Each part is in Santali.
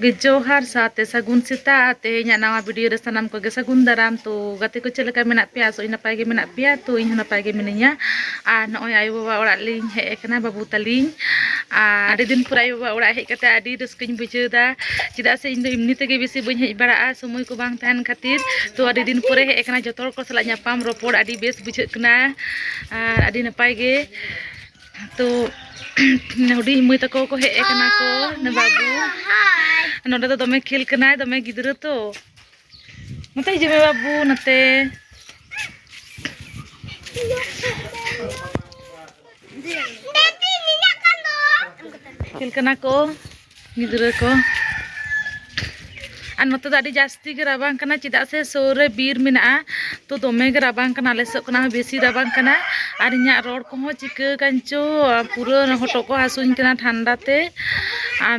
ᱜᱮ ᱡᱚᱦᱟᱨ ᱥᱟᱶᱛᱮ ᱥᱟᱹᱜᱩᱱ ᱥᱮᱛᱟᱜ ᱛᱮᱦᱮᱧᱟᱜ ᱱᱟᱣᱟ ᱵᱷᱤᱰᱤᱭᱳ ᱨᱮ ᱥᱟᱱᱟᱢ ᱠᱚᱜᱮ ᱥᱟᱹᱜᱩᱱ ᱫᱟᱨᱟᱢ ᱛᱚ ᱜᱟᱛᱮ ᱠᱚ ᱪᱮᱫ ᱞᱮᱠᱟ ᱢᱮᱱᱟᱜ ᱯᱮᱭᱟ ᱟᱥᱚᱜ ᱤᱧ ᱱᱟᱯᱟᱭ ᱜᱮ ᱢᱮᱱᱟᱜ ᱯᱮᱭᱟ ᱛᱚ ᱤᱧ ᱦᱚᱸ ᱱᱟᱯᱟᱭ ᱜᱮ ᱢᱤᱱᱟᱹᱧᱟ ᱟᱨ ᱱᱚᱜᱼᱚᱭ ᱟᱭᱳᱼᱵᱟᱵᱟ ᱚᱲᱟᱜ ᱞᱤᱧ ᱦᱮᱡ ᱟᱠᱟᱱᱟ ᱵᱟᱹᱵᱩ ᱛᱟᱹᱞᱤᱧ ᱟᱨ ᱟᱹᱰᱤ ᱫᱤᱱ ᱯᱚᱨ ᱟᱭᱳ ᱵᱟᱵᱟ ᱚᱲᱟᱜ ᱦᱮᱡ ᱠᱟᱛᱮ ᱟᱹᱰᱤ ᱨᱟᱹᱥᱠᱟᱹᱧ ᱵᱩᱡᱷᱟᱹᱣ ᱮᱫᱟ ᱪᱮᱫᱟᱜ ᱥᱮ ᱤᱧ ᱫᱚ ᱮᱢᱱᱤ ᱛᱮᱜᱮ ᱵᱮᱥᱤ ᱵᱟᱹᱧ ᱦᱮᱡ ᱵᱟᱲᱟᱜᱼᱟ ᱥᱚᱢᱚᱭ ᱠᱚ ᱵᱟᱝ ᱛᱟᱦᱮᱱ ᱠᱷᱟᱹᱛᱤᱨ ᱛᱚ ᱟᱹᱰᱤ ᱫᱤᱱ ᱯᱚᱨᱮ ᱦᱮᱡ ᱟᱠᱟᱱᱟ ᱡᱚᱛᱚ ᱦᱚᱲ ᱠᱚ ᱥᱟᱞᱟᱜ ᱧᱟᱯᱟᱢ ᱨᱚᱯᱚᱲ ᱟᱹᱰᱤ ᱵᱮᱥ ᱵᱩᱡᱷᱟᱹᱜ ᱠᱟᱱᱟ ᱟᱨ ᱟᱹᱰᱤ ᱱᱟᱯᱟᱭ ᱜᱮ ᱛᱚ ᱦᱩᱰᱤᱧ ᱢᱟᱹᱭ ᱛᱟᱠᱚ ᱠᱚ ᱦᱮᱡ ᱟᱠᱟᱱᱟ ᱠᱚ ᱵᱟᱹᱵᱩ ᱱᱚᱰᱮ ᱫᱚ ᱫᱚᱢᱮ ᱠᱷᱮᱞ ᱠᱟᱱᱟᱭ ᱫᱚᱢᱮ ᱜᱤᱫᱽᱨᱟᱹ ᱛᱚ ᱱᱚᱛᱮ ᱦᱤᱡᱩᱜ ᱢᱮ ᱵᱟᱹᱵᱩ ᱱᱚᱛᱮ ᱠᱷᱮᱞ ᱠᱟᱱᱟ ᱠᱚ ᱜᱤᱫᱽᱨᱟᱹ ᱠᱚ ᱟᱨ ᱱᱚᱛᱮ ᱫᱚ ᱟᱹᱰᱤ ᱡᱟᱹᱥᱛᱤ ᱜᱮ ᱨᱟᱵᱟᱝ ᱠᱟᱱᱟ ᱪᱮᱫᱟᱜ ᱥᱮ ᱥᱩᱨ ᱨᱮ ᱵᱤᱨ ᱢᱮᱱᱟᱜᱼᱟ ᱛᱚ ᱫᱚᱢᱮ ᱜᱮ ᱨᱟᱵᱟᱝ ᱠᱟᱱᱟ ᱟᱞᱮ ᱥᱮᱫ ᱠᱷᱚᱱᱟᱜ ᱦᱚᱸ ᱵᱮᱥᱤ ᱨᱟᱵᱟᱝ ᱠᱟᱱᱟ ᱟᱨ ᱤᱧᱟᱹᱜ ᱨᱚᱲ ᱠᱚᱦᱚᱸ ᱪᱤᱠᱟᱹ ᱠᱟᱱ ᱪᱚ ᱯᱩᱨᱟᱹ ᱦᱚᱴᱚᱜ ᱠᱚ ᱦᱟᱹᱥᱩᱧ ᱠᱟᱱᱟ ᱴᱷᱟᱱᱰᱟ ᱛᱮ ᱟᱨ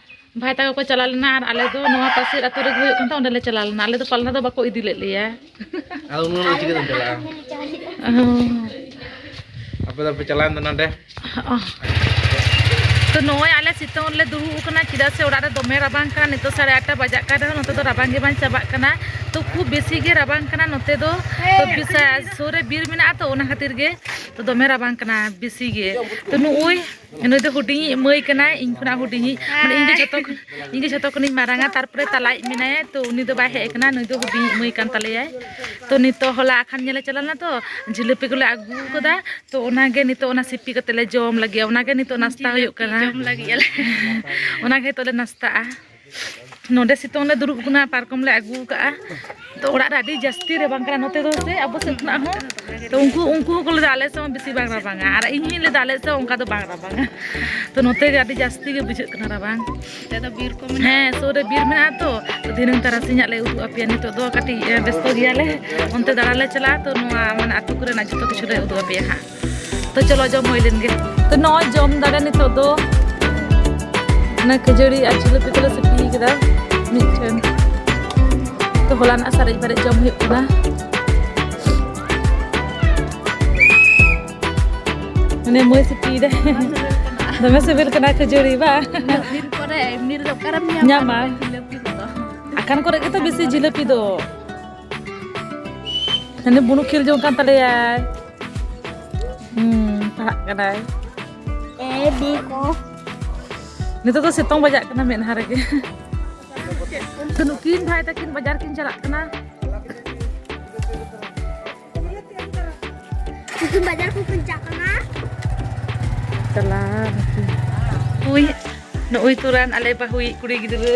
ᱵᱷᱟᱭ ᱛᱟᱠᱚ ᱠᱚ ᱪᱟᱞᱟᱣ ᱞᱮᱱᱟ ᱟᱨ ᱟᱞᱮ ᱫᱚ ᱱᱚᱣᱟ ᱯᱟᱥᱮᱨ ᱟᱹᱛᱩ ᱨᱮᱜᱮ ᱦᱩᱭᱩᱜ ᱠᱟᱱ ᱛᱟᱦᱮᱸ ᱚᱸᱰᱮᱞᱮ ᱪᱟᱞᱟᱣ ᱞᱮᱱᱟ ᱟᱞᱮ ᱫᱚ ᱯᱟᱞᱱᱟ ᱫᱚ ᱵᱟᱠᱚ ᱤᱫᱤ ᱞᱮᱫ ᱞᱮᱭᱟ ᱟᱫᱚ ᱩᱱᱟᱹᱜ ᱫᱚ ᱪᱤᱠᱟᱹᱛᱮᱢ ᱪᱟᱞᱟᱜᱼᱟ ᱟᱯᱮ ᱫᱚᱯᱮ ᱪᱟᱞᱟᱣᱮᱱ ᱫᱚ ᱱᱚᱰᱮ ᱛᱚ ᱱᱚᱜᱼᱚᱭ ᱟᱞᱮ ᱥᱤᱛᱩᱝ ᱨᱮᱞᱮ ᱫᱩᱲᱩᱵ ᱟᱠᱟᱱᱟ ᱪᱮᱫᱟᱜ ᱥᱮ ᱚᱲᱟᱜ ᱨᱮ ᱫᱚᱢᱮ ᱨᱟᱵᱟᱝ ᱠᱟᱱᱟ ᱱᱤᱛᱚᱜ ᱥᱟᱲᱮ ᱟᱴᱴᱟ ᱵᱟᱡᱟᱜ ᱠᱟᱱ ᱨᱮᱦᱚᱸ ᱱᱚᱛᱮ ᱫᱚ ᱨᱟᱵᱟᱝ ᱜᱮ ᱵᱟᱝ ᱪᱟᱵᱟᱜ ᱠᱟᱱᱟ ᱛᱚ ᱠᱷᱩᱵ ᱵᱮᱥᱤ ᱜᱮ ᱨᱟᱵᱟᱝ ᱠᱟᱱᱟ ᱱᱚᱛᱮ ᱫᱚ ᱛᱚ ᱵᱤᱥᱟ ᱥᱩᱨ ᱨᱮ ᱵᱤᱨ ᱢᱮᱱᱟᱜᱼᱟ ᱛᱚ ᱚᱱᱟ ᱠᱷᱟᱹᱛᱤᱨ ᱜᱮ ᱛᱚ ᱫᱚᱢᱮ ᱨᱟᱵᱟᱝ ᱠᱟᱱᱟ ᱵᱮᱥᱤ ᱜᱮ ᱛᱚ ᱱᱩᱜᱼᱩᱭ ᱱᱩᱭ ᱫᱚ ᱦᱩᱰᱤᱧᱤᱡ ᱢᱟᱹᱭ ᱠᱟᱱᱟᱭ ᱤᱧ ᱠᱷᱚᱱᱟᱜ ᱦᱩᱰᱤᱧᱤᱡ ᱢᱟᱱᱮ ᱤᱧ ᱫᱚ ᱡᱷᱚᱛᱚ ᱤᱧ ᱫᱚ ᱡᱷᱚᱛᱚ ᱠᱷᱚᱱᱤᱧ ᱢᱟᱨᱟᱝᱟ ᱛᱟᱨᱯᱚᱨᱮ ᱛᱟᱞᱟᱭᱤᱡ ᱢᱮᱱᱟᱭᱟ ᱛᱚ ᱩᱱᱤ ᱫᱚ ᱵᱟᱭ ᱦᱮᱡ ᱟᱠᱟᱱᱟ ᱱᱩᱭ ᱫᱚ ᱦᱩᱰᱤᱧᱤᱡ ᱢᱟᱹᱭ ᱠᱟᱱ ᱛᱟᱞᱮᱭᱟᱭ ᱛᱚ ᱱᱤᱛᱚᱜ ᱦᱚᱞᱟ ᱟᱠᱷᱟᱱ ᱧᱮᱞᱮ ᱪᱟᱞᱟᱣ ᱞᱮᱱᱟ ᱛᱚ ᱡᱷᱤᱞᱟᱹᱯᱤ ᱠᱚᱞᱮ ᱟᱹᱜᱩ ᱟᱠᱟᱫᱟ ᱛᱚ ᱚᱱᱟᱜᱮ ᱱᱤᱛᱚᱜ ᱚᱱᱟ ᱥᱤᱯᱤ ᱠᱟᱛᱮ ᱞᱮ ᱡᱚᱢ ᱞᱟᱹᱜᱤᱫ ᱚᱱᱟᱜᱮ ᱱᱤᱛᱚᱜ ᱱᱟᱥᱛᱟ ᱦᱩᱭᱩᱜ ᱠᱟᱱᱟ ᱡᱚᱢ ᱞᱟᱹᱜᱤᱫ ᱟᱞᱮ ᱚᱱᱟᱜᱮ ᱱᱤᱛᱚᱜ ᱞᱮ ᱱᱟᱥᱛᱟᱜᱼᱟ ᱱᱚᱰᱮ ᱥᱤᱛᱩᱝ ᱞᱮ ᱫᱩᱲᱩᱵ ᱠᱟᱱᱟ ᱯᱟᱨᱠᱚᱢ ᱞᱮ ᱟᱹᱜᱩ ᱠᱟᱜᱼᱟ ᱛᱚ ᱚᱲᱟᱜ ᱨᱮ ᱟᱹᱰᱤ ᱡᱟᱹᱥᱛᱤ ᱨᱟᱵᱟᱝ ᱠᱟᱱᱟ ᱱᱚᱛᱮ ᱫᱚ ᱥᱮ ᱟᱵᱚ ᱥᱮᱫ ᱠᱷᱚᱱᱟᱜ ᱦᱚᱸ ᱛᱚ ᱩᱱᱠᱩ ᱩᱱᱠᱩ ᱦᱚᱸᱠᱚ ᱞᱟᱹᱭᱫᱟ ᱟᱞᱮ ᱥᱮᱫ ᱦᱚᱸ ᱵᱮᱥᱤ ᱵᱟᱝ ᱨᱟᱵᱟᱝᱟ ᱟᱨ ᱤᱧ ᱦᱚᱸᱧ ᱞᱟᱹᱭᱫᱟ ᱟᱞᱮ ᱥᱮᱫ ᱚᱱᱠᱟ ᱫᱚ ᱵᱟᱝ ᱨᱟᱵᱟᱝᱟ ᱛᱚ ᱱᱚᱛᱮ ᱜᱮ ᱟᱹᱰᱤ ᱡᱟᱹᱥᱛᱤ ᱜᱮ ᱵᱩᱡᱷᱟᱹᱜ ᱠᱟᱱᱟ ᱨᱟᱵᱟᱝ ᱦᱮᱸ ᱥᱩᱨ ᱨᱮ ᱵᱤᱨ ᱢᱮᱱᱟᱜᱼᱟ ᱛᱚ ᱫᱷᱤᱱᱟᱹᱝ ᱛᱟᱨᱟᱥᱤᱧᱟᱜ ᱞᱮ ᱩᱫᱩᱜ ᱟᱯᱮᱭᱟ ᱱᱤᱛᱚᱜ ᱫᱚ ᱠᱟᱹᱴᱤᱡ ᱵᱮᱥᱛᱚ ᱜᱮᱭᱟᱞᱮ ᱚᱱᱛᱮ ᱫᱟᱬᱟᱱ ᱞᱮ ᱪᱟᱞᱟᱜᱼᱟ ᱛᱚ ᱱᱚᱣᱟ ᱢᱟᱱᱮ ᱟᱹᱛᱩ ᱠᱚᱨᱮᱱᱟᱜ ᱡᱚᱛᱚ ᱠᱤᱪᱷᱩ ᱞᱮ ᱩᱫᱩᱜ ᱟᱯᱮᱭᱟ ᱦᱟᱸᱜ ᱛᱚ ᱪᱚᱞᱚ ᱡᱚᱢ ᱦᱩᱭ ᱞᱮᱱ ᱜᱮ ᱛᱚ ᱱᱚᱜᱼᱚᱭ ᱡᱚᱢ ᱫᱟᱞᱮ ᱱᱤᱛᱚᱜ ᱫᱚ ᱚᱱᱟ ᱠᱷᱟᱹᱡᱟᱹᱲᱤ ᱟᱨ ᱡᱷᱤᱞᱟᱹᱯᱤ ᱠᱚᱞᱮ ᱥᱤᱯᱤ ᱠᱮᱫᱟ ᱢᱤᱫᱴᱷᱮᱱ ᱛᱚ ᱦᱚᱞᱟᱱᱟᱜ ᱥᱟᱨᱮᱡ ᱵᱟᱨᱮᱡ ᱡᱚᱢ ᱦᱩᱭᱩᱜ ᱠᱟᱱᱟ ᱢᱟᱱᱮ ᱢᱟᱹᱭ ᱥᱤᱯᱤᱭᱮᱫᱟ ᱫᱚᱢᱮ ᱥᱤᱵᱤᱞ ᱠᱟᱱᱟ ᱠᱷᱟᱹᱡᱟᱹᱲᱤ ᱵᱟ ᱧᱟᱢᱟ ᱟᱠᱟᱱ ᱠᱚᱨᱮ ᱜᱮᱛᱚ ᱵᱮᱥᱤ ᱡᱷᱤᱞᱟᱹᱯᱤ ᱫᱚ ᱦᱟᱱᱮ ᱵᱩᱱᱩ ᱠᱷᱮᱞ ᱡᱚᱝ ᱠᱟᱱ ᱛᱟᱞᱮᱭᱟᱭ ᱦᱩᱸ ᱯᱟᱲᱦᱟᱜ ᱠᱟᱱᱟᱭ ᱮ ᱵᱤ ᱠᱚ ᱱᱤᱛᱚᱜ ᱫᱚ ᱥᱤᱛᱩᱝ ᱵᱟᱡᱟᱜ ᱠᱟᱱᱟ ᱢᱮᱫᱦᱟ ᱨᱮᱜᱮ ᱛᱚ ᱱᱩᱠᱤᱱ ᱵᱷᱟᱭ ᱛᱟᱹᱠᱤᱱ ᱵᱟᱡᱟᱨ ᱠᱤᱱ ᱪᱟᱞᱟᱜ ᱠᱟᱱᱟ ᱱᱩᱠᱤᱱ ᱵᱟᱡᱟᱨ ᱠᱚ ᱠᱤᱱ ᱪᱟᱞᱟᱜ ᱠᱟᱱᱟ ᱪᱟᱞᱟᱣ ᱱᱩᱠᱤᱱ ᱩᱭ ᱱᱩᱭ ᱛᱩᱨᱟᱱ ᱟᱞᱮ ᱵᱟᱹᱦᱩᱭᱤᱡ ᱠᱩᱲᱤ ᱜᱤᱫᱽᱨᱟᱹ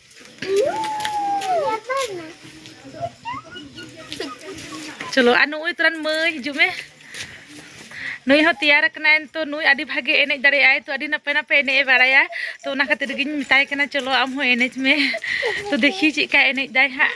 ᱪᱚᱞᱚ ᱟᱨ ᱱᱩᱭ ᱛᱚᱨᱟᱱ ᱢᱟᱹᱭ ᱦᱤᱡᱩᱜ ᱢᱮ ᱱᱩᱭ ᱦᱚᱸ ᱛᱮᱭᱟᱨ ᱠᱟᱱᱟᱭ ᱛᱚ ᱱᱩᱭ ᱟᱹᱰᱤ ᱵᱷᱟᱜᱮ ᱮᱱᱮᱡ ᱫᱟᱲᱮᱭᱟᱜᱼᱟᱭ ᱛᱚ ᱟᱹᱰᱤ ᱱᱟᱯᱟᱭ ᱱᱟᱯᱟᱭ ᱮᱱᱮᱡ ᱮ ᱵᱟᱲᱟᱭᱟ ᱛᱚ ᱚᱱᱟ ᱠᱷᱟᱹᱛᱤᱨ ᱜᱤᱧ ᱢᱮᱛᱟᱭ ᱠᱟᱱᱟ ᱪᱚᱞᱚ ᱟᱢ ᱦᱚᱸ ᱮᱱᱮᱡ ᱢᱮ ᱛᱚ ᱫᱮᱠᱷᱤ ᱪᱮᱫ ᱞᱮᱠᱟᱭ ᱮᱱᱮᱡ ᱫᱟᱭ ᱦᱟᱸᱜ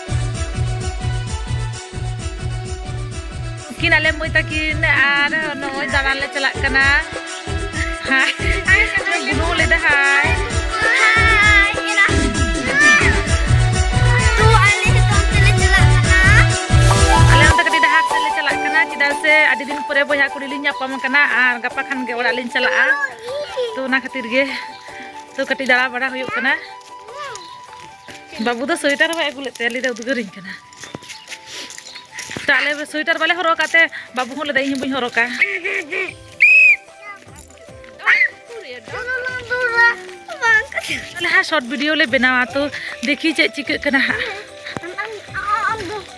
ᱩᱱᱠᱤᱱ ᱟᱞᱮ ᱢᱟᱹᱭ ᱛᱟᱹᱠᱤᱱ ᱟᱨ ᱱᱚᱜᱼᱚᱭ ᱫᱟᱬᱟᱱ ᱞᱮ ᱪᱟᱞᱟᱜ ᱠᱟᱱᱟ ᱵᱩᱱᱩ ᱞᱮᱫᱟ ᱦᱟᱭ ᱪᱮᱫᱟᱜ ᱥᱮ ᱟᱹᱰᱤ ᱫᱤᱱ ᱯᱚᱨᱮ ᱵᱚᱭᱦᱟ ᱠᱩᱲᱤ ᱞᱤᱧ ᱧᱟᱯᱟᱢ ᱠᱟᱱᱟ ᱟᱨ ᱜᱟᱯᱟ ᱠᱷᱟᱱ ᱜᱮ ᱚᱲᱟᱜ ᱞᱤᱧ ᱪᱟᱞᱟᱜᱼᱟ ᱛᱚ ᱚᱱᱟ ᱠᱷᱟᱹᱛᱤᱨ ᱜᱮ ᱛᱚ ᱠᱟᱹᱴᱤᱡ ᱫᱟᱬᱟ ᱵᱟᱲᱟ ᱦᱩᱭᱩᱜ ᱠᱟᱱᱟ ᱵᱟᱹᱵᱩ ᱫᱚ ᱥᱳᱭᱮᱴᱟᱨ ᱵᱟᱭ ᱟᱹᱜᱩ ᱞᱮᱫ ᱛᱮ ᱞᱟᱹᱭᱫᱟ ᱩᱫᱽᱜᱟᱹᱨᱤᱧ ᱠᱟᱱᱟ ᱛᱟᱦᱞᱮ ᱥᱳᱭᱮᱴᱟᱨ ᱵᱟᱞᱮ ᱦᱚᱨᱚᱜ ᱠᱟᱜ ᱛᱮ ᱵᱟᱹᱵᱩ ᱦᱚᱸ ᱞᱟᱹᱭᱫᱟ ᱤᱧ ᱦᱚᱸ ᱵᱟᱹᱧ ᱦᱚᱨᱚᱜ ᱠᱟᱜ ᱛᱟᱦᱞᱮ ᱦᱟᱸᱜ ᱥᱚᱨᱴ ᱵᱷᱤᱰᱤᱭᱳ ᱞᱮ ᱵᱮᱱᱟᱣᱟ ᱛᱚ ᱫᱮᱠᱷᱤ ᱪᱮᱫ ᱪᱤᱠᱟᱹᱜ ᱠᱟᱱᱟ ᱦᱟᱸᱜ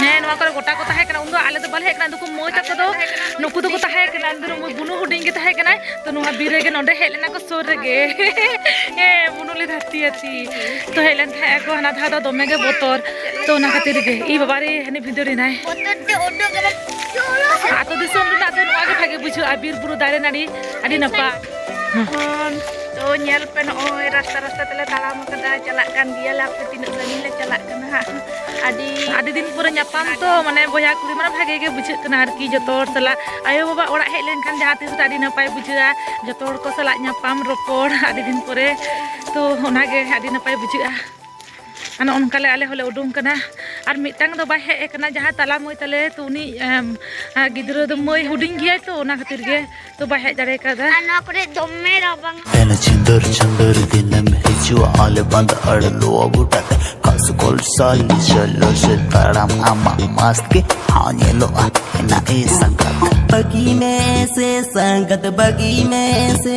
ᱦᱮᱸ ᱱᱚᱣᱟ ᱠᱚᱨᱮ ᱜᱚᱴᱟ ᱠᱚ ᱛᱟᱦᱮᱸ ᱠᱟᱱᱟ ᱩᱱᱫᱚ ᱟᱞᱮ ᱫᱚ ᱵᱟᱞᱮ ᱦᱮᱡ ᱠᱟᱱᱟ ᱱᱩᱠᱩ ᱢᱟᱹᱭ ᱛᱟᱠᱚ ᱫᱚ ᱱᱩᱠᱩ ᱫᱚᱠᱚ ᱛᱟᱦᱮᱸ ᱠᱟᱱᱟ ᱤᱧ ᱫᱚ ᱵᱩᱱᱩ ᱦᱩᱰᱤᱧ ᱜᱮ ᱛᱟᱦᱮᱸ ᱠᱟᱱᱟᱭ ᱛᱚ ᱱᱚᱣᱟ ᱵᱤᱨ ᱨᱮᱜᱮ ᱱᱚᱰᱮ ᱦᱮᱡ ᱞᱮᱱᱟ ᱠᱚ ᱥᱩᱨ ᱨᱮᱜᱮ ᱦᱮᱸ ᱵᱩᱱᱩ ᱞᱮ ᱫᱷᱟᱹᱨᱛᱤ ᱟᱹᱛᱤ ᱛᱚ ᱦᱮᱡ ᱞᱮᱱ ᱛᱟᱦᱮᱸ ᱟᱠᱚ ᱦᱟᱱᱟ ᱫᱷᱟᱣ ᱫᱚ ᱫᱚᱢᱮ ᱜᱮ ᱵᱚᱛᱚᱨ ᱛᱚ ᱚᱱᱟ ᱠᱷᱟᱹᱛᱤᱨ ᱜᱮ ᱤ ᱵᱟᱵᱟ ᱨᱮ ᱦᱟᱹᱱᱤ ᱵᱷᱤᱸᱫᱟᱹᱲᱮᱱᱟᱭ ᱟᱛᱳ ᱫᱤᱥᱚᱢ ᱨᱮᱱᱟᱜ ᱫᱚ ᱱᱚᱣᱟ ᱜᱮ ᱵᱷᱟᱜᱮ ᱵᱩᱡᱷᱟᱹᱜᱼᱟ ᱵᱤᱨ ᱵᱩᱨᱩ ᱫᱟᱨᱮ ᱱᱟᱹᱲᱤ ᱟᱹᱰᱤ ᱱᱟᱯᱟᱭ ᱛᱚ ᱧᱮᱞ ᱯᱮ ᱱᱚᱜᱼᱚᱭ ᱨᱟᱥᱛᱟ ᱨᱟᱥᱛᱟ ᱛᱮᱞᱮ ᱛᱟᱲᱟᱢ ᱟᱠᱟᱫᱟ ᱪᱟᱞᱟᱜ ᱠᱟᱱ ᱜᱮᱭᱟᱞᱮ ᱟᱯᱮ ᱛᱤᱱᱟᱹᱜ ᱥᱟᱺᱜᱤᱧ ᱞᱮ ᱪᱟᱞᱟᱜ ᱠᱟᱱᱟ ᱦᱟᱸᱜ ᱟᱹᱰᱤ ᱟᱹᱰᱤ ᱫᱤᱱ ᱯᱚᱨᱮ ᱧᱟᱯᱟᱢ ᱛᱚ ᱢᱟᱱᱮ ᱵᱚᱭᱦᱟ ᱠᱩᱲᱤ ᱢᱟᱱᱮ ᱵᱷᱟᱜᱮ ᱜᱮ ᱵᱩᱡᱷᱟᱹᱜ ᱠᱟᱱᱟ ᱟᱨᱠᱤ ᱡᱚᱛᱚ ᱦᱚᱲ ᱥᱟᱞᱟᱜ ᱟᱭᱳ ᱵᱟᱵᱟ ᱚᱲᱟᱜ ᱦᱮᱡ ᱞᱮᱱᱠᱷᱟᱱ ᱡᱟᱦᱟᱸ ᱛᱤᱥ ᱨᱮ ᱟᱹᱰᱤ ᱱᱟᱯᱟᱭ ᱵᱩᱡᱷᱟᱹᱜᱼᱟ ᱡᱚᱛᱚ ᱦᱚᱲ ᱠᱚ ᱥᱟᱞᱟᱜ ᱧᱟᱯᱟᱢ ᱨᱚᱯᱚᱲ ᱟᱹᱰᱤ ᱫᱤᱱ ᱯᱚᱨᱮ ᱛᱚ ᱚᱱᱟᱜᱮ ᱟᱹᱰᱤ ᱱᱟᱯᱟᱭ ᱵᱩᱡᱷᱟᱹᱜᱼᱟ ᱟᱨ ᱱᱚᱜᱼᱚ ᱱᱚᱝᱠᱟ ᱞᱮ ᱟᱞᱮ ᱦᱚᱸᱞᱮ ᱩᱰᱩᱝ ᱠᱟᱱᱟ ᱟᱨ ᱢᱤᱫᱴᱟᱝ ᱫᱚ ᱵᱟᱭ ᱦᱮᱡ ᱟᱠᱟᱱᱟ ᱡᱟᱦᱟᱸ ᱛᱟᱞᱟ ᱢᱟᱹᱭ ᱛᱟᱞᱮ ᱛᱚ ᱩᱱᱤ ᱜᱤᱫᱽᱨᱟᱹ ᱫᱚ ᱢᱟᱹᱭ ᱦᱩᱰᱤᱧ ᱜᱮᱭᱟᱭ ᱛᱚ ᱚᱱᱟ ᱠᱷᱟᱹᱛᱤᱨ ᱜᱮ ᱛᱚ ᱵᱟᱭ ᱦᱮᱡ ᱫᱟᱲᱮ ᱠᱟᱣᱫᱟ ᱟᱨ ᱱᱚᱣᱟ ᱠᱚᱨᱮ ᱫᱚᱢᱮ ᱨᱟᱵᱟᱝ ᱛᱮᱱ ᱪᱤᱱᱫᱚᱨ ᱪᱤᱱᱫᱚᱨ ᱫᱤᱱᱮᱢ ᱦᱤᱡᱩᱜ ᱟᱞᱮ ᱵᱟᱸᱫ ᱟᱲ ᱞᱚᱣᱟ ᱜᱚᱴᱟ ᱛᱮ ᱠᱟᱥ ᱠᱚᱞ ᱥᱟᱞ ᱪᱚᱞᱚ ᱥᱮ ᱛᱟᱲᱟᱢ ᱟᱢᱟᱜ ᱢᱟᱥ ᱜᱮ ᱦᱟᱣ ᱧᱮᱞᱚᱜᱼᱟ ᱮᱱᱟ ᱮ ᱥᱟᱸᱜᱟᱛ ᱵᱟᱹᱜᱤ ᱢᱮ ᱥᱮ ᱥᱟᱸᱜᱟᱛ ᱵᱟᱹᱜᱤ ᱢᱮ ᱥᱮ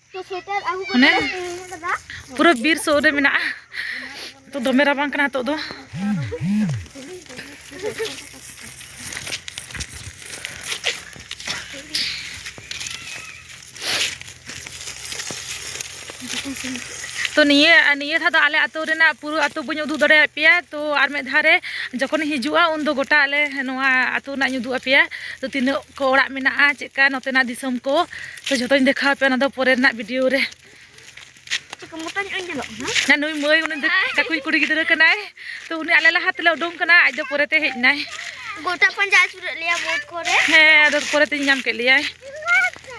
ᱢᱟᱱᱮ ᱯᱩᱨᱟᱹ ᱵᱤᱨ ᱥᱩᱨ ᱨᱮ ᱢᱮᱱᱟᱜᱼᱟ ᱛᱚ ᱫᱚᱢᱮ ᱨᱟᱵᱟᱝ ᱠᱟᱱᱟ ᱱᱤᱛᱚᱜ ᱫᱚ ᱛᱚ ᱱᱤᱭᱟᱹ ᱱᱤᱭᱟᱹ ᱫᱷᱟᱣ ᱫᱚ ᱟᱞᱮ ᱟᱹᱛᱩ ᱨᱮᱱᱟᱜ ᱯᱩᱨᱟᱹ ᱟᱹᱛᱩ ᱵᱟᱹᱧ ᱩᱫᱩᱜ ᱫᱟᱲᱮᱭᱟᱜ ᱯᱮᱭᱟ ᱛᱚ ᱟᱨ ᱢᱤᱫ ᱫᱷᱟᱣ ᱨᱮ ᱡᱚᱠᱷᱚᱱᱤᱧ ᱦᱤᱡᱩᱜᱼᱟ ᱩᱱᱫᱚ ᱜᱚᱴᱟ ᱟᱞᱮ ᱱᱚᱣᱟ ᱟᱹᱛᱩ ᱨᱮᱱᱟᱜ ᱤᱧ ᱩᱫᱩᱜ ᱟᱯᱮᱭᱟ ᱛᱚ ᱛᱤᱱᱟᱹᱜ ᱠᱚ ᱚᱲᱟᱜ ᱢᱮᱱᱟᱜᱼᱟ ᱪᱮᱫ ᱞᱮᱠᱟ ᱱᱚᱛᱮᱱᱟᱜ ᱫᱤᱥᱚᱢ ᱠᱚ ᱛᱚ ᱡᱷᱚᱛᱚᱧ ᱫᱮᱠᱷᱟᱣ ᱯᱮᱭᱟ ᱚᱱᱟ ᱫᱚ ᱯᱚᱨᱮ ᱨᱮᱱᱟᱜ ᱵᱷᱤᱰᱤᱭᱳ ᱨᱮ ᱦᱮᱸ ᱱᱩᱭ ᱢᱟᱹᱭ ᱩᱱᱤ ᱫᱚ ᱠᱟᱠᱩᱭ ᱠᱩᱲᱤ ᱜᱤᱫᱽᱨᱟᱹ ᱠᱟᱱᱟᱭ ᱛᱚ ᱩᱱᱤ ᱟᱞᱮ ᱞᱟᱦᱟ ᱛᱮᱞᱮ ᱩᱰᱩᱝ ᱠᱟᱱᱟ ᱟᱡ ᱫᱚ ᱯᱚᱨᱮᱛᱮ ᱦᱮᱡ ᱮᱱᱟᱭ ᱜᱚᱴᱟ ᱯᱟᱸᱡᱟ ᱟᱹᱪᱩᱨᱮᱫ ᱞᱮᱭᱟ ᱵᱳᱴ ᱠᱚᱨᱮ ᱦᱮᱸ ᱟᱫᱚ ᱯᱚᱨᱮᱛᱮᱧ ᱧᱟᱢ ᱠᱮᱫ ᱞᱮᱭᱟᱭ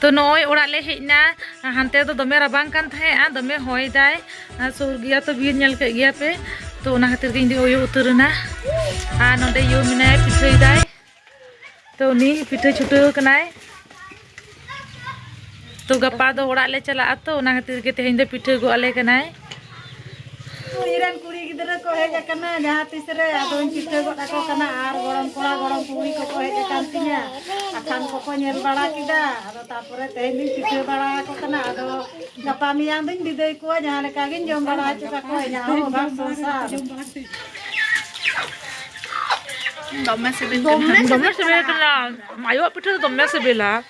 ᱛᱚ ᱱᱚᱜᱼᱚᱭ ᱚᱲᱟᱜ ᱞᱮ ᱦᱮᱡ ᱮᱱᱟ ᱦᱟᱱᱛᱮ ᱫᱚ ᱫᱚᱢᱮ ᱨᱟᱵᱟᱝ ᱠᱟᱱ ᱛᱟᱦᱮᱸᱜᱼᱟ ᱫᱚᱢᱮ ᱦᱚᱭ ᱫᱟᱭ ᱥᱩᱨ ᱜᱮᱭᱟ ᱛᱚ ᱵᱤᱨ ᱧᱮᱞ ᱠᱮᱫ ᱜᱮᱭᱟ ᱯᱮ ᱛᱚ ᱚᱱᱟ ᱠᱷᱟᱹᱛᱤᱨ ᱜᱮ ᱤᱧ ᱫᱚ ᱩᱭᱩ ᱩᱛᱟᱹᱨ ᱮᱱᱟ ᱟᱨ ᱱᱚᱰᱮ ᱭᱩ ᱢᱮᱱᱟᱭ ᱯᱤᱴᱷᱟᱹᱭ ᱫᱟᱭ ᱛᱚ ᱩᱱᱤ ᱯᱤᱴᱷᱟᱹ ᱪᱷᱩᱴᱟᱹᱣ ᱠᱟᱱᱟᱭ ᱛᱚ ᱜᱟᱯᱟ ᱫᱚ ᱚᱲᱟᱜ ᱞᱮ ᱪᱟᱞᱟᱜᱼᱟ ᱛᱚ ᱚᱱᱟ ᱠᱷᱟᱹᱛᱤᱨ ᱜᱮ ᱛᱮᱦᱮᱧ ᱫᱚ ᱯᱤᱴᱷᱟᱹ ᱜᱚᱜ ᱟᱞᱮ ᱠᱟᱱᱟᱭ ᱤᱧᱨᱮᱱ ᱠᱩᱲᱤ ᱜᱤᱫᱽᱨᱟᱹ ᱠᱚ ᱦᱮᱡ ᱟᱠᱟᱱᱟ ᱡᱟᱦᱟᱸ ᱛᱤᱥ ᱨᱮ ᱟᱫᱚᱧ ᱪᱤᱛᱟᱹ ᱜᱚᱫ ᱟᱠᱚ ᱠᱟᱱᱟ ᱟᱨ ᱜᱚᱲᱚᱢ ᱠᱚᱲᱟ ᱜᱚᱲᱚᱢ ᱠᱩᱲᱤ ᱠᱚᱠᱚ ᱦᱮᱡ ᱟᱠᱟᱱ ᱛᱤᱧᱟ ᱟᱠᱷᱟᱱ ᱠᱚᱠᱚ ᱧᱮᱞ ᱵᱟᱲᱟ ᱠᱮᱫᱟ ᱟᱫᱚ ᱛᱟᱨᱯᱚᱨᱮ ᱛᱮᱦᱮᱧ ᱫᱩᱧ ᱪᱤᱛᱟᱹ ᱵᱟᱲᱟ ᱟᱠᱚ ᱠᱟᱱᱟ ᱟᱫᱚ ᱜᱟᱯᱟ ᱢᱮᱭᱟᱝ ᱫᱩᱧ ᱵᱤᱫᱟᱹᱭ ᱠᱚᱣᱟ ᱡᱟᱦᱟᱸ ᱞᱮᱠᱟ ᱜᱤᱧ ᱡᱚᱢ ᱵᱟᱲᱟ ᱦᱚᱪᱚ ᱠᱟᱠᱚᱣᱟ ᱤᱧᱟᱹᱜ ᱦᱚᱸ ᱚᱵᱷᱟᱵ ᱥᱚᱝᱥᱟᱨ ᱫᱚᱢᱮ ᱥᱤᱵᱤᱞ ᱠᱟᱱᱟ ᱫᱚᱢᱮ ᱥᱤᱵᱤᱞ ᱠᱟᱱᱟ ᱟᱭᱳᱣᱟᱜ ᱯᱤᱴᱷᱟᱹ ᱫᱚ ᱫᱚᱢᱮ ᱥᱤᱵᱤᱞᱟ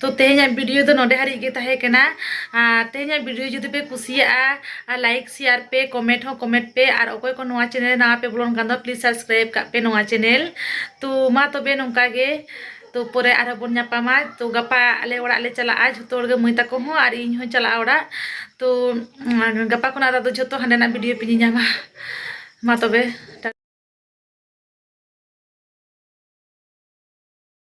ᱛᱚ ᱛᱮᱦᱮᱧᱟᱜ ᱵᱷᱤᱰᱤᱭᱳ ᱫᱚ ᱱᱚᱰᱮ ᱦᱟᱹᱨᱤᱡ ᱜᱮ ᱛᱟᱦᱮᱸ ᱠᱟᱱᱟ ᱟᱨ ᱛᱮᱦᱮᱧᱟᱜ ᱵᱷᱤᱰᱤᱭᱳ ᱡᱩᱫᱤ ᱯᱮ ᱠᱩᱥᱤᱭᱟᱜᱼᱟ ᱟᱨ ᱞᱟᱭᱤᱠ ᱥᱮᱭᱟᱨ ᱯᱮ ᱠᱚᱢᱮᱱᱴ ᱦᱚᱸ ᱠᱚᱢᱮᱱᱴ ᱯᱮ ᱟᱨ ᱚᱠᱚᱭ ᱠᱚ ᱱᱚᱣᱟ ᱪᱮᱱᱮᱞ ᱨᱮ ᱱᱟᱣᱟ ᱯᱮ ᱵᱚᱞᱚᱱ ᱠᱟᱱ ᱫᱚ ᱯᱞᱤᱡ ᱥᱟᱵᱥᱠᱨᱟᱭᱤᱵ ᱠᱟᱜ ᱯᱮ ᱱᱚᱣᱟ ᱪᱮᱱᱮᱞ ᱛᱚ ᱢᱟ ᱛᱚᱵᱮ ᱱᱚᱝᱠᱟ ᱜᱮ ᱛᱚ ᱯᱚᱨᱮ ᱟᱨᱦᱚᱸ ᱵᱚᱱ ᱧᱟᱯᱟᱢᱟ ᱛᱚ ᱜᱟᱯᱟ ᱟᱞᱮ ᱚᱲᱟᱜ ᱞᱮ ᱪᱟᱞᱟᱜᱼᱟ ᱡᱷᱚᱛᱚ ᱦᱚᱲ ᱜᱮ ᱢᱟᱹᱭ ᱛᱟᱠᱚ ᱦᱚᱸ ᱟᱨ ᱤᱧ ᱦᱚᱸ ᱪᱟᱞᱟᱜᱼᱟ ᱚᱲᱟᱜ ᱛᱚ ᱜᱟᱯᱟ ᱠᱷᱚᱱᱟᱜ ᱫᱚ ᱡᱷᱚᱛᱚ ᱦᱟᱸᱰᱮᱱᱟᱜ ᱵᱷᱤᱰᱤᱭᱳ ᱯᱮ ᱧᱮᱧᱟᱢᱟ ᱢᱟ ᱛᱚᱵᱮ